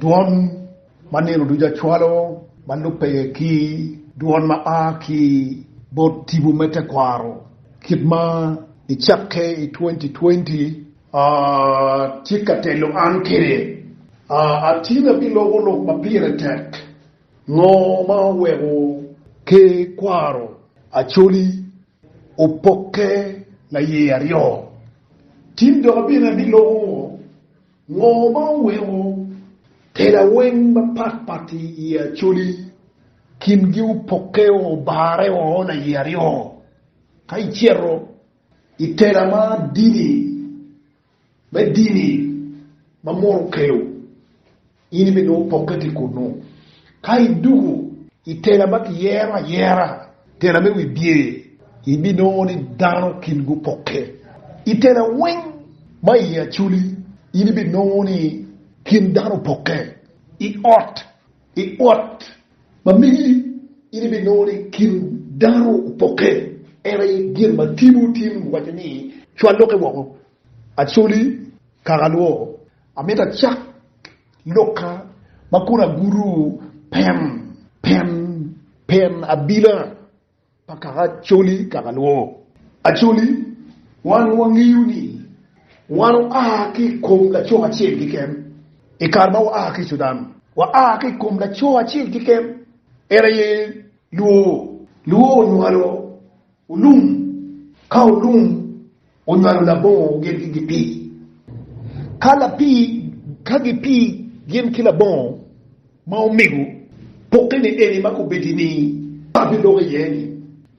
Dwon ma nino ducu acwalo ma lubbe ki dwon ma a ki bot tipo me tekwaro kit ma icakke i twenty twenty, a tye ka telo an kwede. A Atin abiloko lok ma pire tek, Ngo ma oweko ke kwaro Acholi opokke laye aryo? Tin dok abino abiloko ngo? Ngo ma oweko tela weng mapat pat i i Acholi kin gi opoke o obare o laye aryo? Ka iceto i tela ma dini me dini ma munu okelo in ibi nongo opoke ki kunu. Ka idwogo i tela ma kiyero ayera, tela me wibye, ibinongo ni dano kin gupokke. I tela weng ma iye acoli, in ibinongo ni kin dano opokke. I ot i ot ma megi, in ibinongo ni kin dano opokke. En aye gin ma timo tin waco ni, Cwal lokke woko, acoli, kaka lwo. Amito acak Luka ma kun agudo pen, pen, pen abila pa kaka Acholi kaka luwo. Acholi, wan wangeyo ni wan oa ki i kom laco acel keken i kare ma waa ki i Cudan. Waa ki i kom laco acel keken, en aye luwo. Luwo onywalo Olum, ka olum onywalo labongo gin ki gipii, ka lapii ka gipii gin ki labongo ma omego pokke ni eni ma kobedi ni abiloko iye ni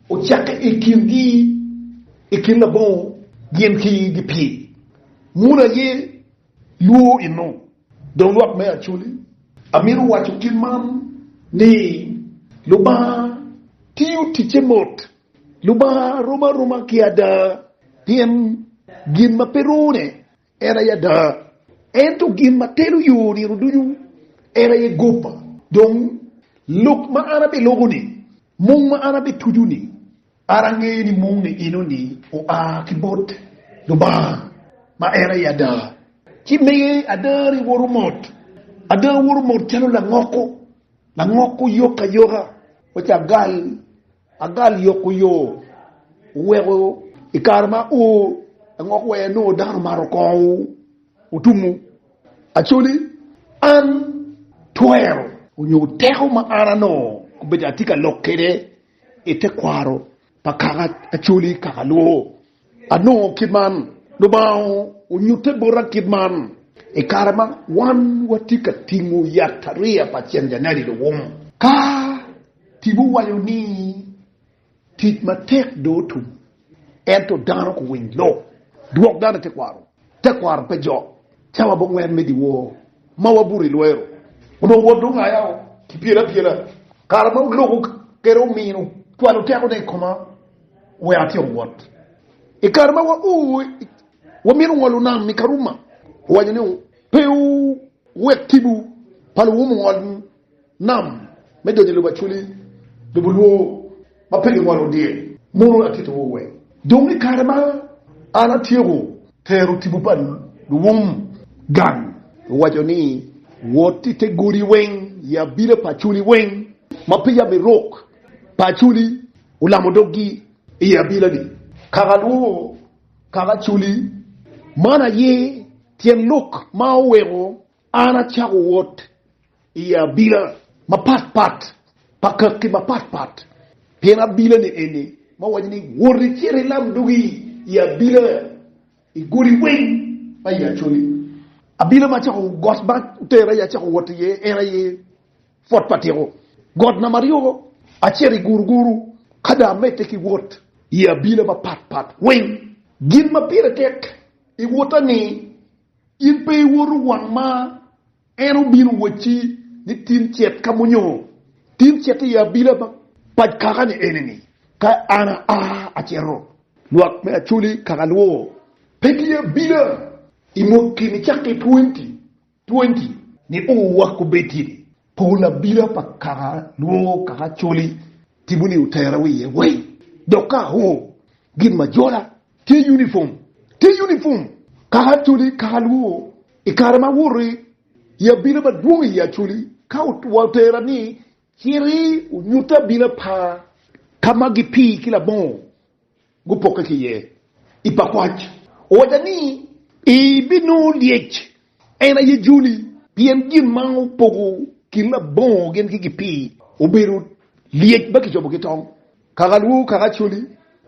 ocakke i kin gi i kin labongo gin ki gipii munu aye Lwor inu, dong lwak me Acoli, amito waco kit man ni, Lubanga tiyo ticce mot. Lubanga rom aroma ki ada, pien gin ma pe rone en aye ada. Ento gin ma telo yo nino ducu en aye goba. Dong, lok ma an abeloko-ni, mung ma an abetuco-ni, An angeyo ni moni enoni oa ki bot Lubanga, ma en aye ada. Ci miye adani woto mot. Ada woto mot calo langoko, langoko yok ayoka. Waco agal, agal yoko yo, oweko i kare ma o langoko aye nongo dano omato kongo otumo. Actually, an twero onyo teko ma an anongo kobedo atye ka lok kwede I tekwaro pa kaka acoli kaka lubo, anongo kit man, Lubanga onyutte bota kit man, I kare ma wan watye ka tingo yatariya pa cenjanadi luwum, ka tipo waco ni tic matek dong otum, Ento dano kuwiny lok dwok dano i tekwaro, tekwaro pe jo. Cawa bongwen me dyewor ma wabuto i lwero, onongo Wod dong aya o ki pyelo apyela. Kare ma oloko kede omino cwalo tekone i koma wek atyek wot. I kare ma wao wamito ngolo nam i Karuma, owaco ni, Pe wuwek tipo pa luwum ongolni. Nam me donyo i lobo acwali, lobo lwo ma pe gingolo dye muno. Akittiwu we dong i kare ma an atyeko tero tipo pa luwum gang. Waco ni, Wot i te godi weng, i abila pa acwali weng, ma peya me rok pa acwali olamo doggi i abilani. Kaka lworo kaka acwali man aye tyen lok ma oweko An acako wot i abila mapat pat pa kaki mapat pat, pien abila ni eni ma waco ni, Wot icit ilam dugi i abila i godi weng ma i Acholi. Abila ma acako got ma otera i acako wot iye en aye Fort Patiko, got namba aryo acito i Guruguru, ka dong amedde ki wot i abila mapat pat weng. Gin ma pire tek i wota ni In pe iwoto wang ma en obino wacci ni tin cet ka munyo tin cet i abila ma pac kaka-ni enini, ka an aa aceto lwak me Acholi kaka luwo. Pe ki abila i mwaki ni cakki i twenty twenty ni uu wak obed tye ni pol abila pa kaka luwo kaka Acholi timo ni otera wiye weng dok ka aoo gin ma jola. Tye unifom, tye unifom kaka Acholi, kaka Luo i kare ma woti i abila madwong i Acholi ka wa otera ni citi wunyutte abila pa ka ma gipii ki labongo gupokke ki iye i pakwac owaca ni ibinongo lyec En aye joli, pien gin ma opogo kin labongo gin ki gipii obedo lyec ma kicobo ki tong, kaka lwor kaka coli.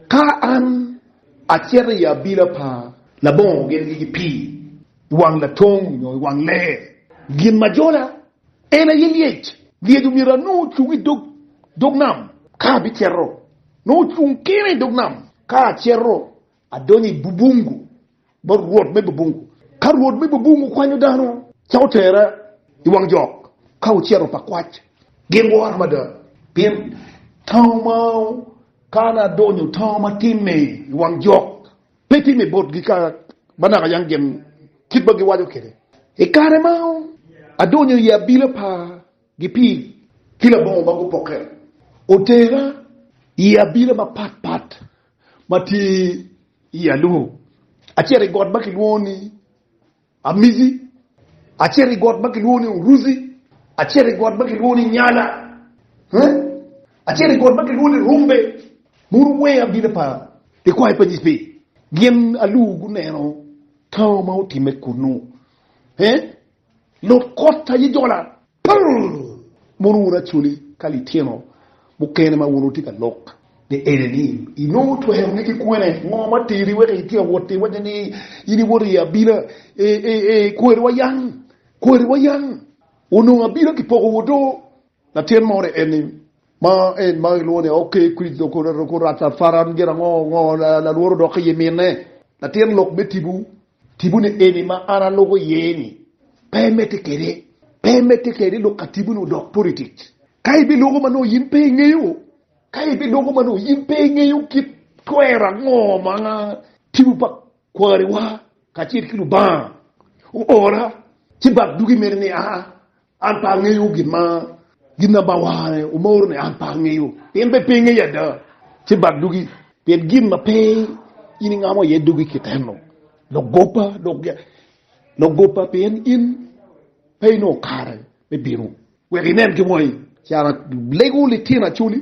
Ka an acito i abila pa labongo gin ki gipii i wang latong nyo i wang lee, gin ma jola, en aye lyec. Lyec omyero anongo ocung i dog nam ka abicito, nongo ocung kene i dog nam ka acito. Adonyo i bubungu bot rwot me bubungu. Ka rwot me bubungu kwanyo dano, ca otere i wang jok ka ocito pa kwac, gin wora mada, pien tango ma kano adonyo tango ma timme i wang jok pe timme botgi ka ma naka yang gin kit ma giwaco kwede. I kare ma adonyo i abila pa Gipir ki labongo ma gupokke, otera i abila mapat pat. ma tye i Aluho, acito i got ma kilwongo ni Amizi, acito i got ma kilwongo ni Uruzi, acito i got ma kilwongo ni Nyala, acito i got ma kilwongo ni Rumbe. Mono weng abino pa likwayo pa Nycpi? Gin Aluho guneno tango ma otimme kunnu? Lub kotta yi jola pur mono wun acholi ka litino mukene ma wun wutye ka lok. Ni ene ni inongo twero ni ki kwene? Ngo ma teri wek itye ka wot i wacce ni in iwoto i abila? Eeeee kweri wa yang, kweri wa yang, onongo abila ki poko woo do. Latin mo ore en ni Ma en ma gilwongo ni oke kwid okuratarafaran gin ango? Ngo lalwor odok iye mine? Latin lok me tibu, tibu ni eni ma an aluko iye ni pe imedde kede, pe imedde kede lok ka tibu ni odok politic. Ka ibiluko ma nongo yin pe ingeyo, ka ibiluko ma nongo yin pe ingeyo kit twero ango ma tibu pa kwariwa kacel ki Lubanga oora ci bak dugi mene ni aa An pe angeyo gin ma gin na ba ware omoro ne an pe angeyo pien be pe ingeyo ada ci bak dugi pien gin ma pe in ingamo iye dugi ki teno logopa dok logopa pien in pe inongo kare me bino wek inen ki wangi ci an alego litino acoli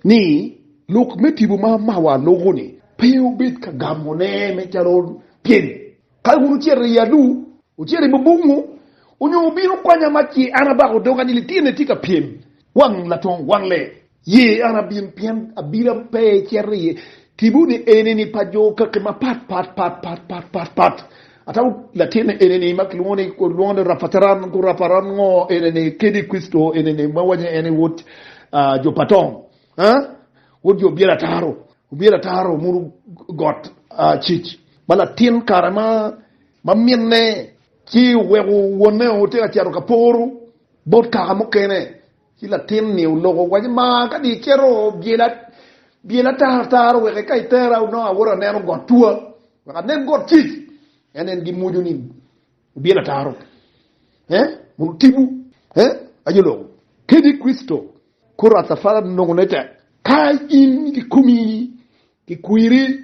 ni lok me tipo ma mawa loko-ni pe obed ka gamone me calo tyeni. Ka wun wucito i adu, wucito i bubungu, onyo wubino kwanya ma ce an abako doga ni lityenna tye ka pyem wang latong wang lee, ye an abin, pien abira pe cito i tipo-ni eni-ni pa jo kaki mapat pat pat pat pat pat pat. Atamo latinne enini ma kilwongo ni lwongo ni Rapateran ku Raparan ngo enini kedi Kricito enini ma waco ni en aye wod jo pa Tom, wod jo obyelo ataro, obyelo ataro muno got Cic, ma latin kare ma minne ci oweko wonne otye ka cito ka poro bot kaka mukene Ci latin ni oloko owaco, Maa, kadi icito, byela, byela ataro ataro wek eka itera onongo awoto aneno got twa, wek anen got cic. En en gimwoco ni, Wubyel ataro, eh, mondo otibu, eh, aye oloko. Kadi Kricito kor atafara nongo ne tek, ka in kikomi kikwiri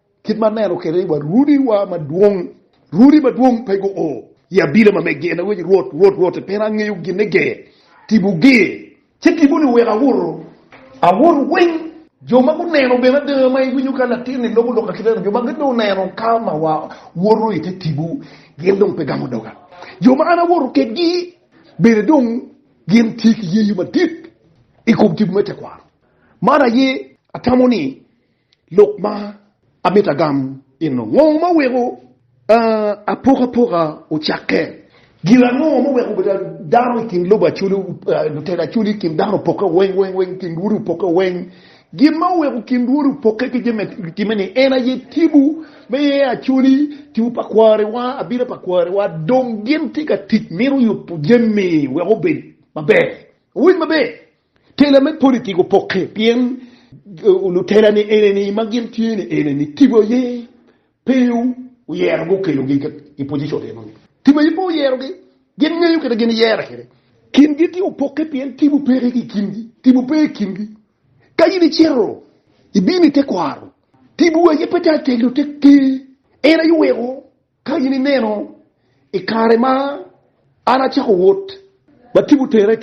Kit ma aneno kwede ni wa Rudiwa madwong, Rudi madwong pe guo i abila ma megi, en aye waco, Rwot, Rwot, Rwot, i pera angeyo ginne ge, tipo ge, ci tiponi oweko awoto, awoto weng. Jo ma guneno bene ada ma iwinyo ka latinni loko lok akiteno, jo ma gin dong oneno ka ma wa woto i te tipo, gin dong pe gamo doga. Jo ma an awoto kedgi bene dong gin tye ki yeyo madit i kom tipo me tekwaro. Man aye atamo ni Lok ma amito agam eno, Ngo ma weko apokapoka ocakke? Gin ango ma oweko obedo dano i kin lobo Acholi, lutela Acholi i kin dano opokke weng weng weng, i kin lwoti opokke weng? Gin ma oweko kin lwoti opokke ki jami ma gitimme ni en aye Tipo me Acholi, Tipo pa kwariwa, Abita pa kwariwa. Dong gin tye ka tic mito yubo jami wek obed maber. Wuwinj maber! Tela me politik opokke pien lutelani eneni ma gin tye ni eneni tipo aye pe oyerogi okelogi i pojicon enoni. Tipo aye pe oyerogi, gin ngeyo kite gin yere kede. Kingi tye opokke pien tipo peke ki i kingi, tipo pe i kingi. Ka in icito ibino i tekwaro, tipo aye pe tye ategno te ker, en aye oweko. Ka in ineno i kare ma an acako wot ma tipo tera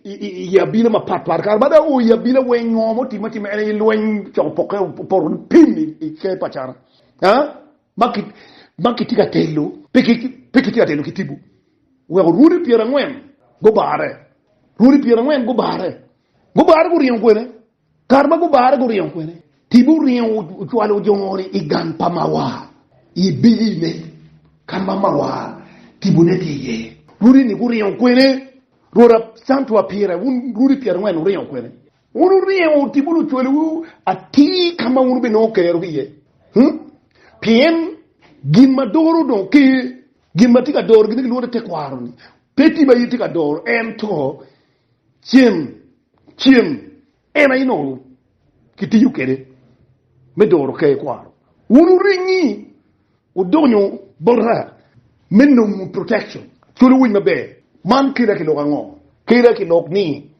i abila mapat pat, kare ma dong oo i abila weng ngo mo timme atima en aye lweny coko poke opoto pim i ker pa cana ma kitye ka telo pe kitye ka telo ki tipo weko rwodi pyerangwen gubare, rwodi pyerangwen gubare, gubare guringo kwene. Kare ma gubare guringo kwene, tibi oringo ocwalo ojongo ni i gang pa Mawar i biyine ka ma Mawar tibune tye iye. Rudi ni guringo kwene, rwota Santu Apire wun rudi pyerangwen wuringo kwene? Wun wuringo tibu lucwaliwu atir ka ma wun wubinongo kero ki iye. Hmm? Pien gin ma doro dong ker, gin ma tye ka doro gin kilwongo ni tekwaro-ni, pe tibi aye tye ka doro, ento Cem, cem en aye nongo kitiyo kwede me doro ker kwaro. Wun wuringi wudonyo bota me nongo protection, cwalo winy maber. Man keda ki lok ango? Keda ki lok ni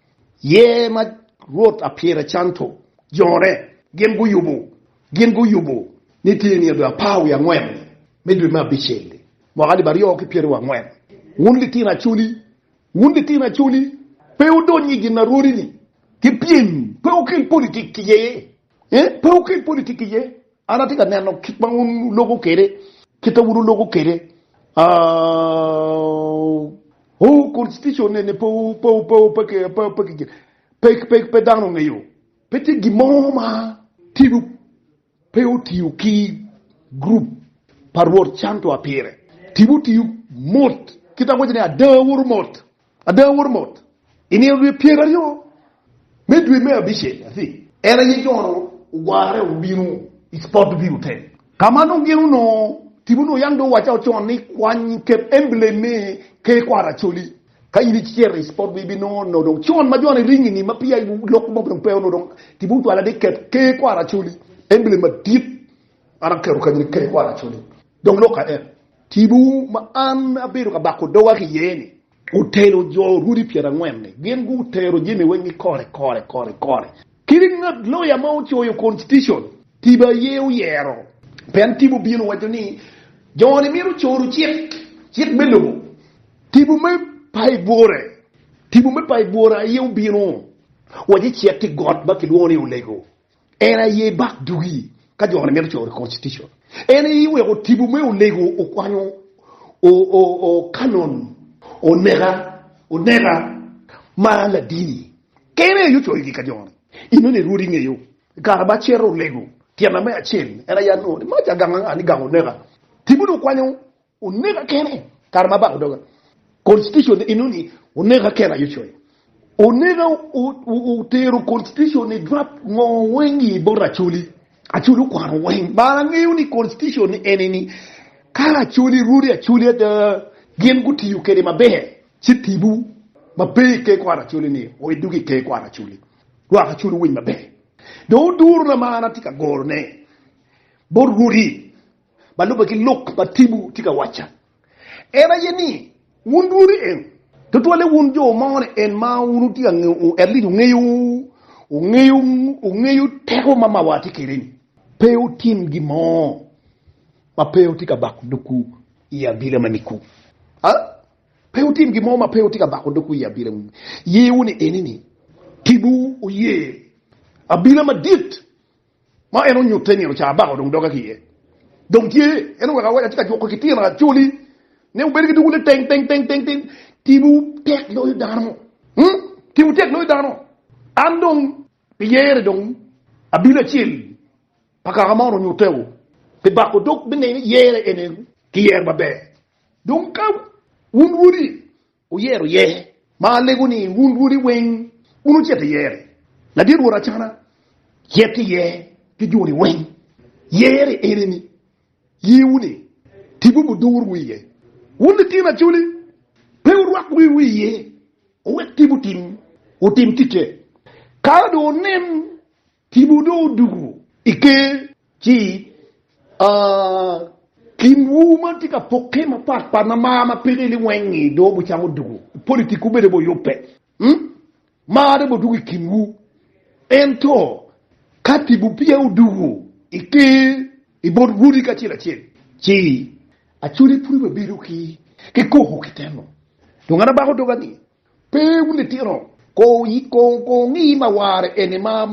yer ma Rwot Apyera Canto jone gin guyubo, gin guyubo ni tye nino dwe apar wiye angwen me dwe me abicel-li, mwaka alip aryo ki pyeraryo angwen. Wun litino acholi! Wun litino Acholi, pe wudony i ginarwodi-ni ki pyem, pe wukel politik iye, ee, pe wukel politik iye. An atye ka neno kit ma wun wuloko kwede, kit ma wun wuloko kwede, aa, oo, Konstitucon-ni ni pe, pe, pe, pe, ki, pe, pe, pe, pe, pe dano ongeyo, pe tye gin mo ma tye. Pe otiyo ki gurup pa Rwot cantu a pire, tipo otiyo mot, kit awaco ni ada awoto mot, ada awoto mot. I nino dwe pyer aryo me dwe me abicel, en aye Jon ogware obino i Spottview Hotel, ka ma nongo gin onongo tipo nongo yam dong owacce ocon ni kwany kep emblem me Ker Kwar Acholi. Ka in icito i spot ma ibinongo onongo dong con ma jone ringo inge ma peya lok mo dong pe onongo dong timo cwalo adek ket ker kwar acoli emblem madit an aketo kany ni ker kwar acoli dong lok ka en tibu ma an abedo ka bako doga ki iye ni. Otelo jo orwodi pyera angwen ni gin gu tero jemi weng ni kore kore kore kore kadi ngat loya ma ocoyo constitition tibu aye oyero pien tibu obino waco ni joni mito coru cik cik me lobo. Tipo me Paibure Tipo me Paibure aye obino wa ci cito i got ma kilwongo ni Olego. En aye bak dugi ka jo ni mito coyo reconstitution. En aye oweko tipo me Olego okwanyo O'Cannon oneka oneka ma ladini. Kene aye ocoyo gi ka jo ni. In nongo irwod ingeyo i kare ma cito Olego tyena me acel en aye anongo ni mac aganga anga ni gang oneka. Tipo ni okwanyo Oneka kene kare ma abako doga. Constitution enoni oneka kene aye coyo. Oneka otero constitution ni drop ngo weng i bot Acholi. Acholi okwano weng. Bar angeyo ni constitution ni enini ka Acholi rwodi Acholi ada gin gutiyo kede maber ci tibu ma pe i ker kwaro Acholi ni o idog i ker kwaro Acholi. Lwak Acholi owiny maber. Dong oduro na ma an atye ka goro ne bot rwodi. ma lubbe ki lok ma Tibu tye ka wacca en aye ni, wun dwun ni en, tutwalle wun jo mo ni en ma wun wutye ka ngeyo, at least wungeyo, wungeyo, wungeyo teko ma mawa tye kwede ni, pe wutim gin mo ma pe wutye ka bako dogwu i abila ma niku, a, pe wutim gin mo ma pe wutye ka bako dogwu i abila ma yewu ni eni ni, Tibu oye abila madit Ma en onyutte nino ca abaka odong doga ki iye. Dong tye, en oweko awaca atye ka juko ki tyen Racoli ni wubed ki dwogo ni teng teng teng teng teng, timwu tek loyo dano, hmm, timwu tek loyo dano. An dong pi yere dong abino acel pa kaka ma on onyutteo, pi bako dog me ngeyo ni yere ene ki yer maber. Dong ka wun wodi Wuyero iye, ma alego ni, wun rwodi weng, wun wucito iyeri. Ladit rwod acana yet ki iye ki joni weng. Yeri enini, yiwu-ni, tibu budurwu iye. Wun litino acoli, pe wurwak wiwu iye, wuwek tibu tim, wutim ticce. Ka dong wunen Timwu dong odoko i ker, ci kinwu ma tye ka pokke mapat pat ma mar ma peke liweng-ngi dong obucamo odoko, politikwu bene bene oyubbe, mar dong odoko i kinwu. Ento ka timwu peya odoko i ker i bot rwodi kacel acel, ci acwali pud bibedo ki koko ki teno, dong an abako doga ni Pe wun litino ko wungi ma ware eni ma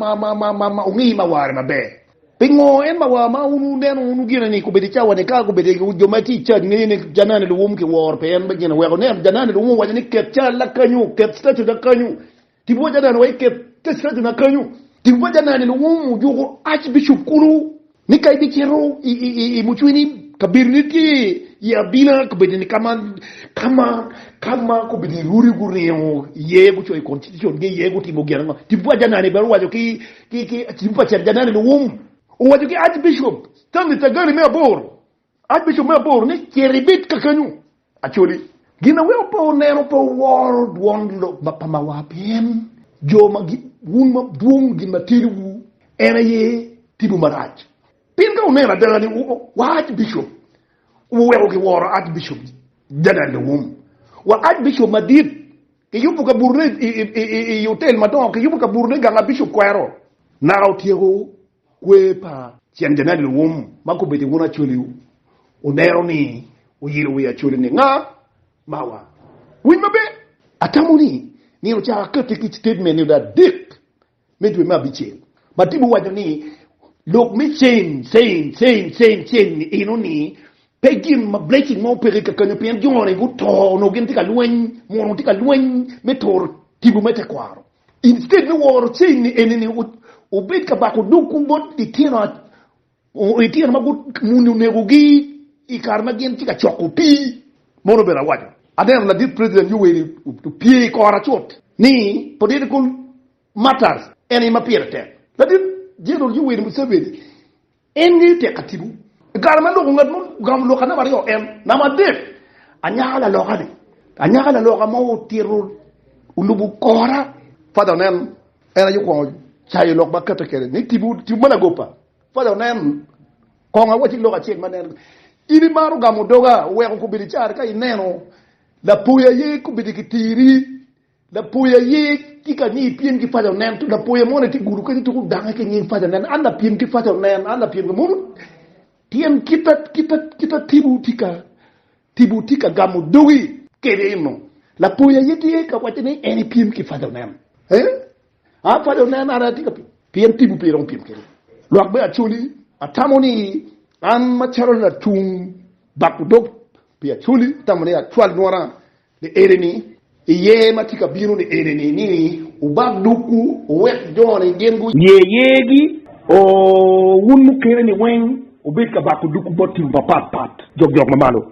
wungi ma ware maber. Pingo en ma war ma wun wuneno wunu gine ni gubedo i cawa ni ka gubedo i jo ma tye i cad ngeyo ni janani luwum ki woro pe en gin oweko nen janani luwum owaco ni ket cal na kanyu ket statue na kanyu tipo pa janani wa iket statue na kanyu tipo pa janani luwum ojuko arch bishop kulu Ni ka ibicito i mucwini, kabedone tye i abina, kabedone ka ma, ka ma, ka ma kobedo irudi guringo iye, gucoyo Constitution-gi iye, gutimo gin ango. Tipo pa Janani bene owaco ki, ki, ki, tipo pa Cen Janani luwum owaco ki Archbishop Stanley Tagani me aboro, Archbishop me aboro ni cito ibed kakenyu Acholi. Gin ma weko pe oneno pe oworo dwon lok ma pa mawa pien jo ma gi wun ma dwong gin ma teliwu en aye timo marac. Pien ka wuneno adada ni wa Archbishop wuweko ki woro Archbishop General Lewum wa Archbishop madit ki yubu kaburune i hotel madongo ki yubu kaburune ganga Bishop kwero naka otyeko Kwer pa Cen Janet Luwum ma gubedo i Wun Acoliwu oneno ni oyilo wi acolini Nga Mawa? Winy maber! Atamo ni myero ocak akette ki citatement nyo adek me dwe me abicel ma tipo waco ni Lok me Cen, Cen, Cen, Cen, Cen ni eno ni pe gin ma blessing mo peke kakanyo pien jo ni guto onongo gin tye ka lweny, mwuro onongo tye ka lweny me turo tipo me tekwaro. Instead me woro chain eni ni obed ka bako dogwu bot litino litino ma muni onegogi i kare ma gin tye ka coko pii, mono obedo awaco. Aneno ladit President Yoweri opye i kora cut ni political matters en aye ma pire tek. Ladit General Yoweri Museveni En ngeyo tek atibu. I kare ma loko ngat mo ogamo lok ka namba aryo en namba adek anyaka laloka ni anyaka laloka mo otito olubo kora. Father onen en aye okwongo cayo lok ma kate kede ni tibu tibu ma lagopa. Father onen kong awaci lok acel ma nen in imaro gamo doga oweko kobedo icare ka ineno lapoya aye kobedo ki tiri Lapoya ye tye ka ni ipyem ki paco nen to lapoya moni tye gudo kenyo tuko dange ki nying paco nen an lapyem ki paco nen an lapyem ki mono tyen kita kita kita tipo tye ka tipo tye ka gamo dogi kede eno lapoya ye tye ka waco ni en ipyem ki paco nen eh a paco nen an atye ka pien tipo pe iromo pyem kede lwak me acholi atamo ni an macalo latung bako dog pi acholi atamo ni acwal nywora Ni enini, i yer ma tye ka bino ni enini, ni wubak dukwu, wuwek jo-ni gin gu. Yer yergi. O, wun mukene-ni weng, wubed ka bako dukwu bot tim mapat pat, jog jok ma malo.